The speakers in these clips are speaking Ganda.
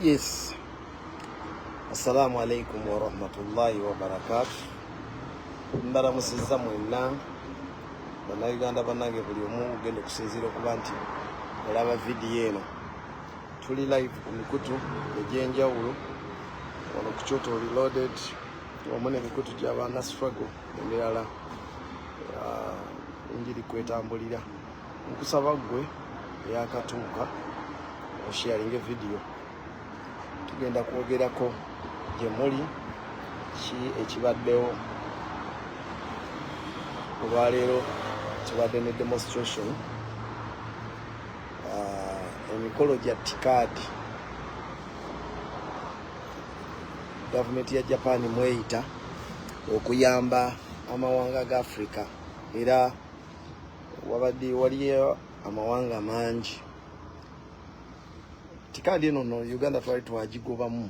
Yes. Assalamu alaikum warahmatullahi wabarakatu. Mbalamusizza mwenna bannayuganda bannange, buli omu ugenda okusinziira okuba nti olaba vidiyo eno. Tuli live ku mikutu egy'enjawulo wano ku Kyoto Reloaded wamu n'emikutu gy'abaana struggle emirala ah, enjiri kwetambulira. nkusaba gwe yakatuuka osharinge vidiyo tugenda kwogerako gye muli ki ekibaddewo olwaleero kibadde ne demonstration ah, emikolo gya tikaadi gavumenti ya japan mweyita okuyamba amawanga ga africa era wabadde waliyo amawanga mangi tikaadi eno no uganda twali twagigobamu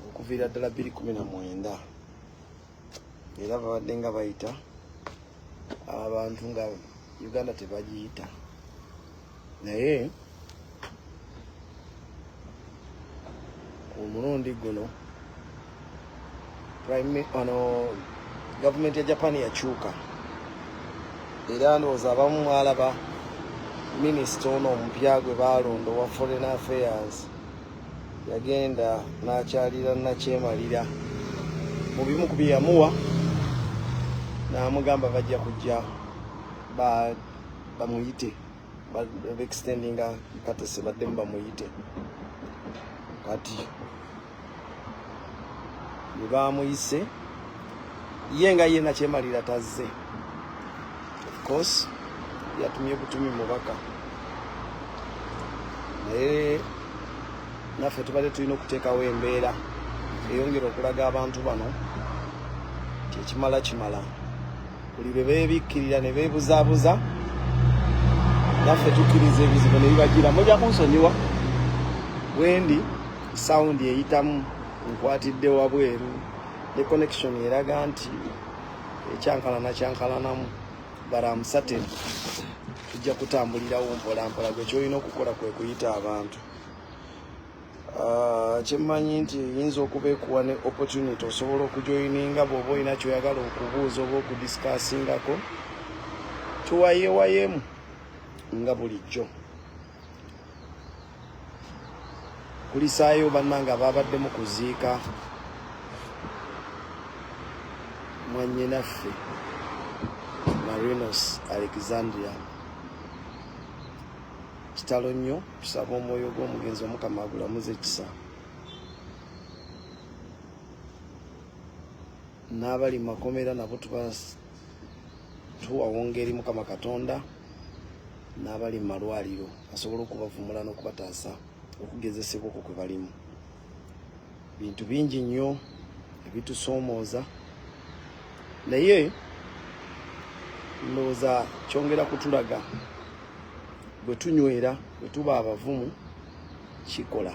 okuviira ddala bbiri kumi na mwenda era babadde nga bayita abantu nga uganda tebagiyita naye omulundi guno ono gavumenti ya japan yakyuka era ndowooza abamu mwalaba minisita ono omupya gwe baalonda owa foreign affairs yagenda n'akyalira nakyemalira mu bimu ku bye yamuwa n'amugamba bajja kujja bamuyite bextendinga katese baddemu bamuyite kati bwebamuyise ye nga ye nakyemalira tazze ofcourse yatumye butumi mubaka naye naffe tubadde tulina okuteekawo embeera eyongera okulaga abantu bano nti ekimala kimala buli lwe beebikkirira ne beebuzaabuza naffe tukkiriza ebizibu ne bibajira mujja kunsonyiwa wendi sawundi eyitamu nkwatidde wabweru ne connection eraga nti ekyankalana kyankalanamu baramusate tujja kutambulirawo mpolampola gwe kyolina okukola kwe kuyita abantu Ah, kyemmanyi nti eyinza okuba ekuwa ne opportunity osobola okujoyininga bw'oba olina kyoyagala okubuuza oba okudiskasingako tuwayewayemu nga bulijjo kulisaayo bannanga baabadde mu kuziika mwanyinaffe marinos alexandria kitalo nnyo tusaba omwoyo gw'omugenzi omukama agulamuza ekisa n'abali mu makomera nabo tuba tuwawonga eri mukama katonda n'abali mu malwaliro asobola okubavumula n'okubataasa okugezesebwa okwo kwe balimu bintu bingi nnyo ebitusoomooza naye ndowooza kyongera kutulaga bwe tunywera bwe tuba abavumu kikola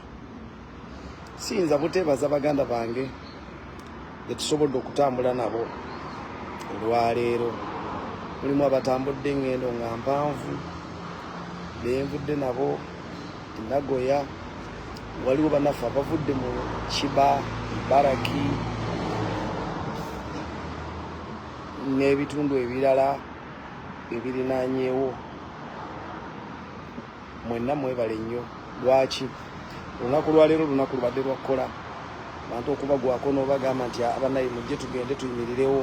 siyinza buteebaza baganda bange betusobodde okutambula nabo olwaleero mulimu abatambudde engendo nga mpanvu benvudde nabo Nagoya waliwo banaffe abavudde mu kiba baraki n'ebitundu ebirala ebirinanyewo mwenna mwebale nnyo lwaki olunaku lwaleero olunaku lubadde lwakkola bantu okubagwako n'obagamba nti abanaye mujje tugende tuyimirirewo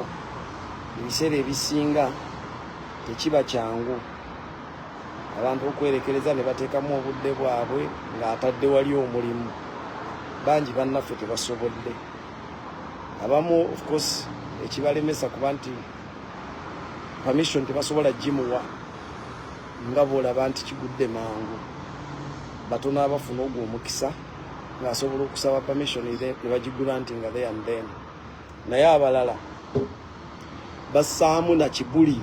ebiseera ebisinga tekiba kyangu abantu okwerekereza ne bateekamu obudde bwabwe ng'atadde wali omulimu bangi bannaffe tebasobodde abamu ofcourse ekibalemesa kuba nti permission tebasobola gimuwa nga bwolaba nti kigudde mangu batono abafuna ogwo omukisa ng'asobola okusaba permission ne bagigula nti nga the and then naye abalala bassaamu na kibuli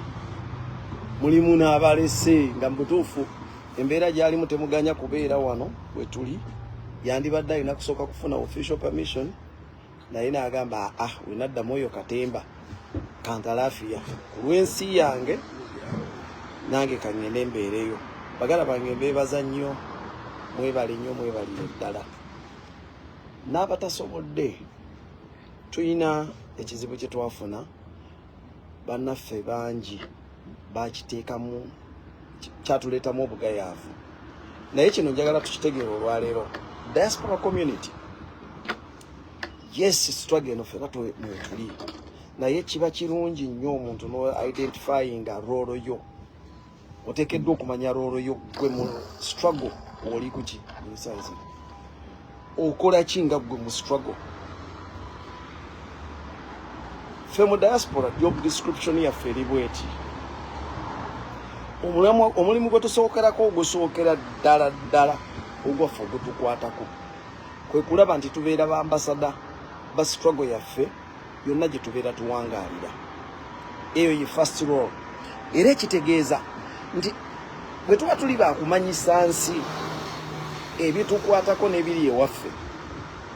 mulimu n'abalese nga mubutuufu embeera gyalimu temuganya kubeera wano wetuli yandibadde alina kusooka kufuna official permission naye nagamba aa ah, wenaddamu oyo katemba kantalafiya kulwensi yange nange kangende mbeereyo bagala bange mbeebaza nnyo mwebale nnyo mwebalire ddala n'abatasobodde tulina ekizibu kye twafuna bannaffe bangi bakiteekamu kyatuleetamu obugayaavu naye kino njagala tukitegeera olwaleero diaspora community yes struggle eno fena mwetuli naye kiba kirungi nnyo omuntu no identifying a role yo oteekeddwa okumanya roolo yo gwe mu struggle oli kuki ensanzi okola ki nga gwe mu struggle ffe mu diaspora job description yaffe eri bweti omulimu gwe tusookerako ogusookera ddala ddala ogwaffe ogutukwatako kwe kulaba nti tubeera ba ambasada ba struggle yaffe yonna gye tubeera tuwangaalira eyo ye first roll era ekitegeeza nti bwe tuba tuli bakumanyisa nsi ebitukwatako n'ebiri ewaffe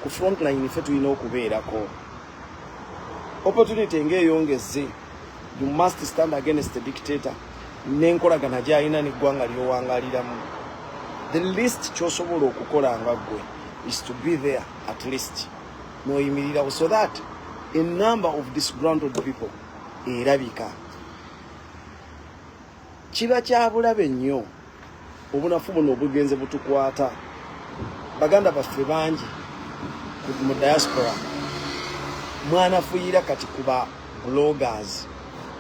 ku frontline ffe tulina okubeerako opportunity ng'eyongezze you must stand against the dictator n'enkolagana gyalina n'eggwanga ly'owangaliramu the least kyosobola okukola nga ggwe is to be there at least noyimirirawo so that a number of disgrounded people erabika kiba kyabulabe nnyo obunafu buno obugenze butukwata baganda baffe bangi mu diaspora mwanafuyira kati kuba bloggers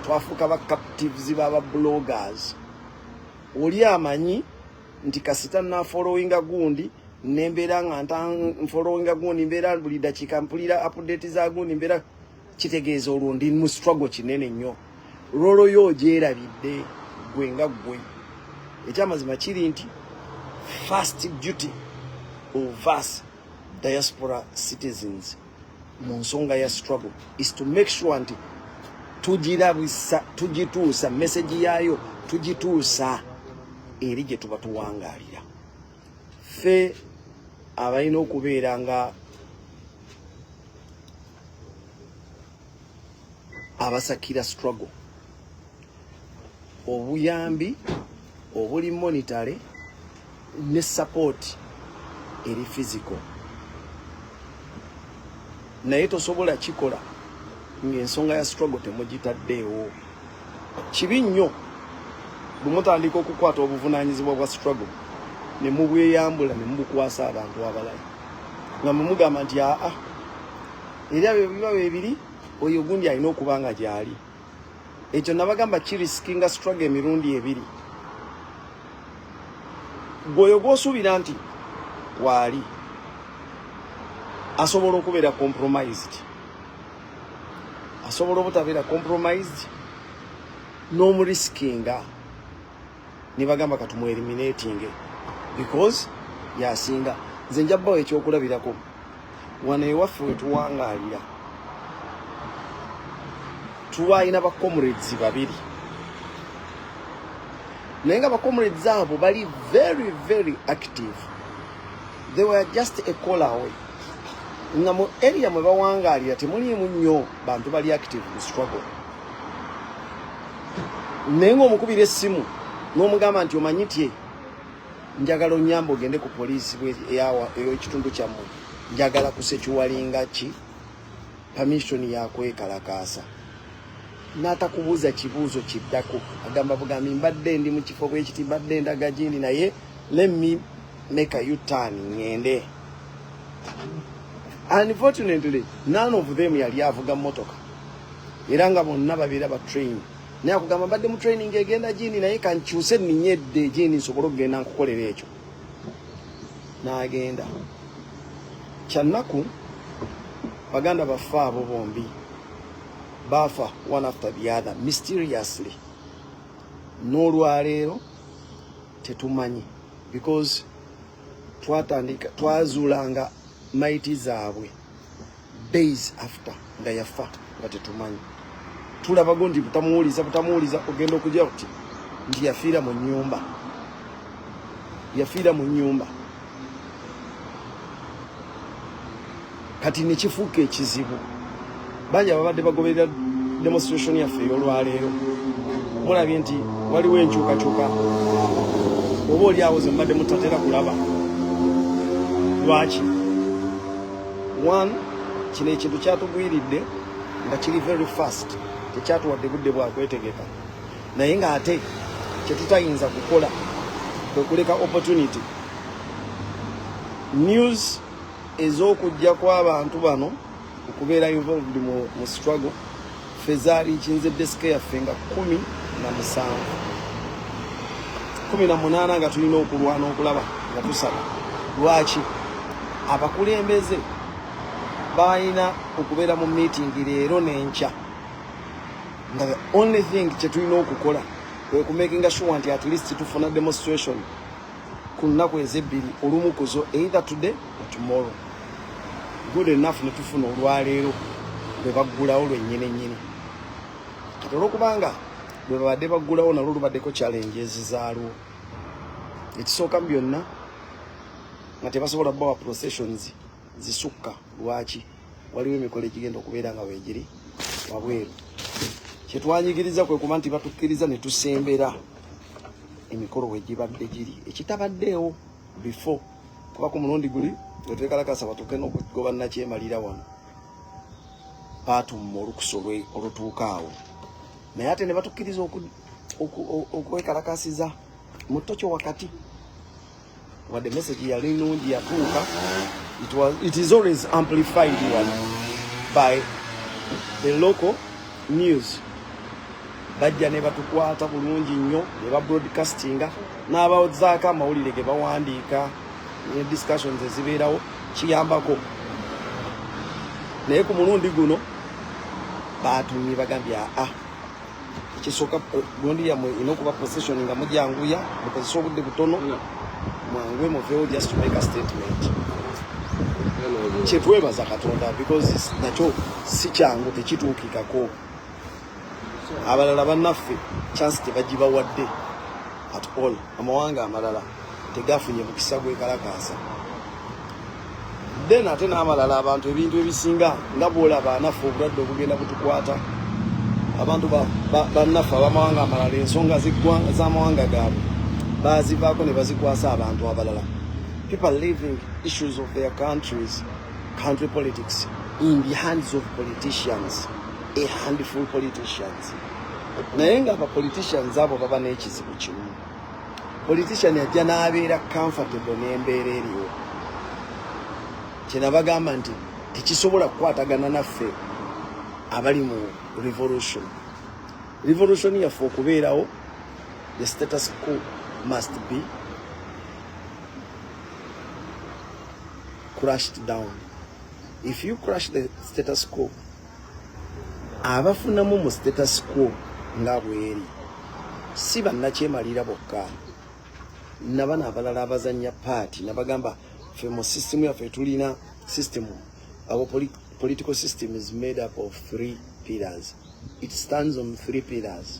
twafuuka ba captives baba bloggers oli amanyi nti kasita na following gundi nembera nga nta following gundi mbera buli dakika mpulira update za gundi mbera kitegeeza olwo ndi mu struggle kinene nnyo rolo yo ogyerabidde gwe nga gwe ekyamazima kiri nti first duty of us diaspora citizens mu nsonga ya struggle is to make sure nti tugirabisa tugituusa message yaayo tugituusa eri gye tuba tuwangaalira ffe abalina okubeera nga abasakira struggle obuyambi obuli monitale ne sapooti eri fiziko naye tosobola kikola ng'ensonga ya struggle temugitaddeewo kibi nnyo bwe mutandika okukwata obuvunaanyizibwa bwa struggle ne mubweyambula ne mubukwasa abantu abalala nga mwe mugamba nti aa era bye biba bye biri oyo gundi alina okuba nga gyali ekyo nabagamba kirisikinga struggle emirundi ebiri gwoyo gwosuubira nti waali asobola okubeera compromised asobola obutabeera compromised n'omurisikinga no nebagamba katumu eliminating because yasinga nze nja bawo ekyokulabirako wano ewaffe wetuwangalira tulwalina ba comrades babiri naye nga ba comrades abo bali very very active they were just a call away nga mu area mwe bawangalira temuliimu nnyo bantu bali active mu struggle naye ngaomukubira essimu n'omugamba nti omanyi tye njagala onyamba ogende ku poliisi eyokitundu kyammwe njagala kusekiwalinga ki pamishoni yakwekalakaasa n'atakubuuza kibuuzo kiddako agamba bugambi mbadde ndi mu kifo bwekiti mbadde ndaga gindi naye lemme make a utan ngende unfortunately none of them yali avuga motoka era nga bonna babeera ba train naye akugamba mbadde mu training egenda gini naye kankyuse ninyedde gini nsobole okugenda nkukolera ekyo n'agenda kyannaku baganda baffe abo bombi baafa one after the other mysteriously n'olwaleero tetumanyi because twatandika twazuulanga maiti zaabwe days after nga yafa nga tetumanyi tulabago nti butamuwuliza butamuwuliza ogenda okujja kuti nti yafiira mu nyumba yafiira mu nyumba kati nekifuuka ekizibu bangi ababadde bagoberera demonstration yaffe eyolwaleero mulabye nti waliwo enkyukakyuka oba oli awo zembadde mutatera kulaba lwaki one kino ekintu kyatugwiridde nga kiri very fast tekyatuwadde budde bwakwetegeka naye nga ate kyetutayinza kukola kwekuleka opportunity news ez'okujja kw'abantu bano okubeera involved mu, mu struggle fezaali nkinze desike yaffe nga kumi na musanvu kumi na munaana nga tulina okulwana okulaba nga tusaba lwaki abakulembeze balina okubeera mu miitingi leero n'enkya nga the only thing kyetulina okukola kwekumakinga sure nti at least tufuna demonstration ku nnaku ezebbiri olumu kuzo either today or tomorrow good enough ne tufuna olwaleero lwe baggulawo lwennyini nnyini kati olwokubanga lwe babadde baggulawo nalwo lubaddeko challenge ezizaalwo ekisooka mu byonna nga tebasobola bawa processions zisukka lwaki waliwo emikolo egigenda okubeera nga wegiri wabweru kyetwanyigiriza kwe kuba nti batukkiriza ne tusembera emikolo wegibadde giri ekitabaddeewo before kuba ku mulundi guli wetwekalakasa batuuke nokugoba nakyemalira wano batumma olukusa olutuuka awo naye ate nebatukkiriza okwekalakasiza mu tokyo wakati wadde message yali nungi yatuuka it was it is always amplified one by the local news bajja ne batukwata bulungi nnyo ne ba broadcastinga n'abazaako amawulire ge bawandiika ne discussions ezibeerawo kiyambako naye ku mulundi guno batumye bagambye aa ah, ekisooka gundi yamwe ina okuba position nga mujanguya mukozesa obudde butono mwanguwe muvewo just to make a statement kyetwebaza katonda because nakyo si kyangu tekituukikako abalala banaffe chance tebagibawadde at all amawanga amalala tegafunye mukisa gwekalakaasa then ate n'amalala abantu ebintu ebisinga nga bwolaba anaffe obulwadde obugenda butukwata abantu bannaffe abamawanga amalala ensonga z'amawanga gaabwe bazivaako ne bazikwasa abantu abalala people living issues of their countries country politics in the hands of politicians a handful politicians naye nga abapoliticians abo baba n'ekizibu kimu politician ajja n'abeera comfortable n'embeera eriwo kyenabagamba nti tekisobola kukwatagana naffe abali mu revolution revolution yaffe okubeerawo the status quo must be crushed down if you crush the status quo abafunamu mu status quo nga bweri si bannakyemalira bokka nabana abalala abazanya paati nabagamba fe mu system yaffe tulina system our political system is made up of three pillars it stands on three pillars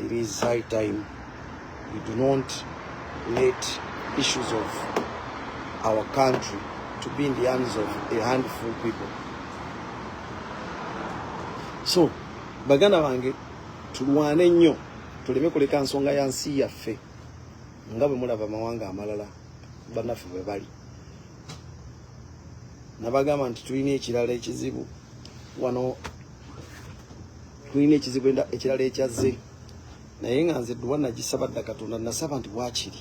It is high time we do not let issues of our country to be in the hands of a handful people. So, baganda bange tulwane nnyo tuleme kuleka nsonga ya nsi yaffe nga bwe mulaba amawanga amalala bannaffe bwe bali nabagamba nti tulina ekirala ekizibu wano tulina ekizibu ekirala ekyazze naye nga nze dduwa nagisaba dda katonda nasaba nti bwakiri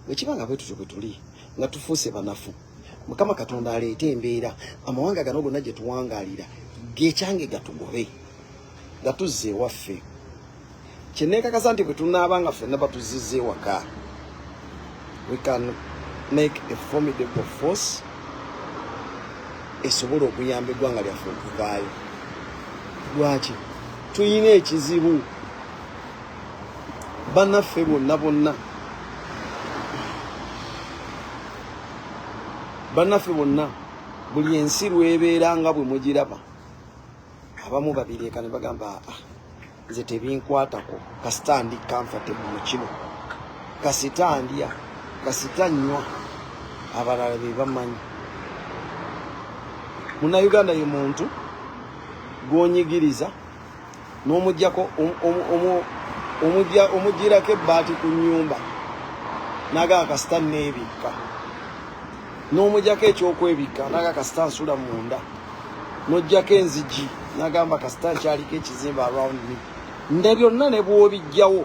bwekiba nga bwetutyo bwe tuli nga tufuuse banafu mukama katonda aleete embeera amawanga gano gonna gye tuwangaalira gekyange gatugobe nga tuzza ewaffe kyenekakasa nti bwetunaaba nga fenna batuzizza ewaka we can make a formidable force esobola okuyamba eggwanga lyaffe okuvaayo lwaki tulina ekizibu banaffe bonna bonna banaffe bonna buli ensi lwebeera nga bwe mugiraba abamu babireeka ne bagamba ah, ah. nze tebinkwatako kasita ndi kanfate mu kino kasita ndya kasita nywa abalala be bamanyi munnayuganda ye muntu gwonyigiriza n'omugyako omugirako ebbaati ku nnyumba nagaa kasita neebikka n'omujako ekyokwebikka naga kasita nsula munda nojjako enzigi nagamba kasita nkyaliko ekizimba around me nda byonna ne bwobijjawo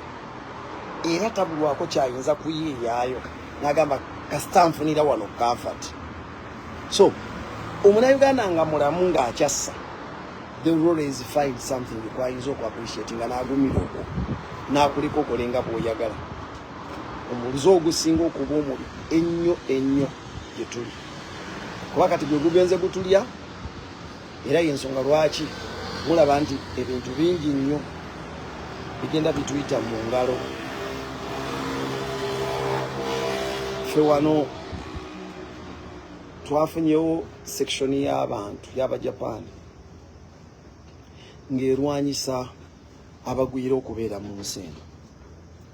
era tabulwako kyayinza kuyiiyaayo nagamba kasita nfunira wano comfort so omunauganda nga mulamu ng'akyassa the role is find something kwayinza okuappreciatinga nagumira okwo nakuleka okolenga bwoyagala omulizo ogusinga okuba omubi ennyo ennyo gye tuli kuba kati gwe gugenze gutulya era yensonga lwaki mulaba nti ebintu bingi nnyo bigenda bituyita mu ngalo fe wano twafunyewo sekishoni y'abantu y'abajapaani ng'erwanyisa abagwira okubeera mu nsi eno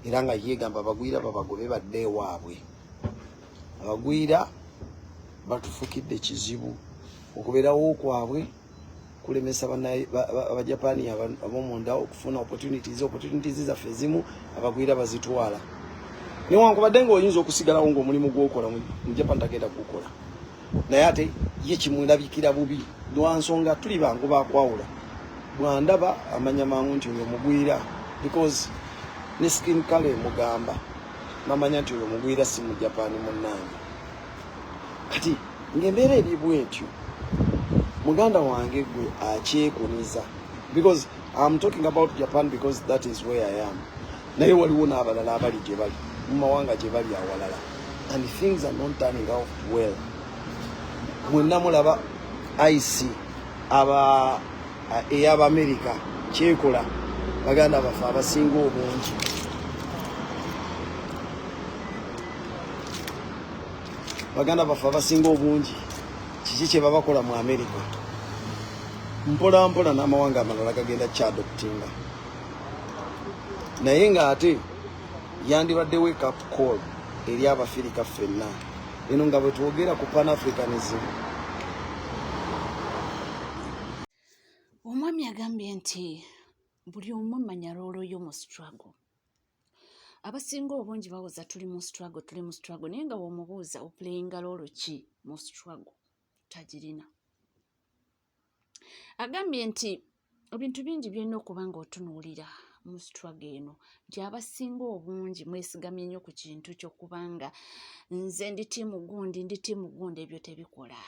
era nga yegamba abagwira babagobe badde ewaabwe abagwira batufukidde kizibu okubeerawo kwabwe kulemesa abajapani abomunda okufuna opportunities opportunities zaffe ezimu abagwira bazitwala newankubadde nga oyinza okusigalawo ngaomulimu gwokola mu japan tagenda kukola naye ate ye kimulabikira bubi lwansonga tuli bangu bakwawula bwandaba amanya mangu nti oyo mugwira because ne skin kale mugamba namanya nti oyo mugwira si mu japan munange kati ngaembeera eri bwetyo muganda wange gwe akyekuniza because am talking about japan because that is where i am naye waliwo n'abalala abali gye bali mu mawanga gye bali awalala and things are not turning out well mwenna mulaba ic aba eh, ey'abamerika kyekola baganda baffe abasinga obungi baganda baffe abasinga obungi kiki kye babakola mu amerika mpolampola n'amawanga amalala gagenda kyadoptinga naye ng'ate yandibadde wake up call eri abafirika ffenna eno nga bwetwogera ku pan africanism omwami agambye nti buli omu manya loolo yo mu struggle abasinga obungi bawoza tuli mu struggle tuli mu struggle naye nga womubuuza oplayinga loolo ki mu struggle tagirina agambye nti ebintu bingi byolina okuba nga otunuulira mu siturago eno nti abasinga obungi mwesigamye nnyo ku kintu kyokuba nga nze ndi tiimu gundi ndi tiimu gundi ebyo tebikola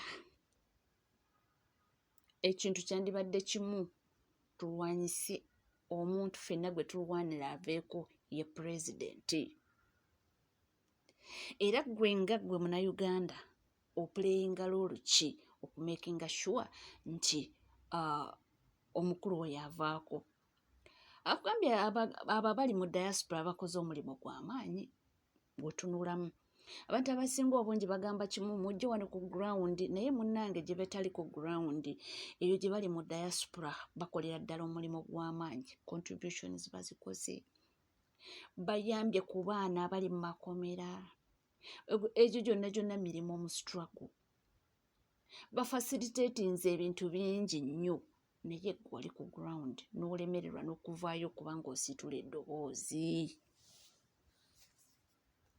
ekintu kyandibadde kimu tulwanyise omuntu fenna gwe tulwanira aveeko ye pulezidenti era gwe nga gwe munauganda opuleyinga loolu ki okumakinga sure nti uh, omukulu oyo avaako akugambye abo abali mu diaspora bakoze omulimu gwamaanyi gwetunulamu abantu abasinga obungi bagamba kimu mujje wano ku ground naye munange gye betali ku ground eyo gye bali mu diaspora bakolera ddala omulimu gw'amaanyi contributions bazikoze bayambye ku baana abali mu makomera egyo gyonna gyonna mirimu mu struggle bafasilitatinze ebintu bingi nnyo naye gwali ku ground n'olemererwa n'okuvaayo okuba ng'osiitula eddoboozi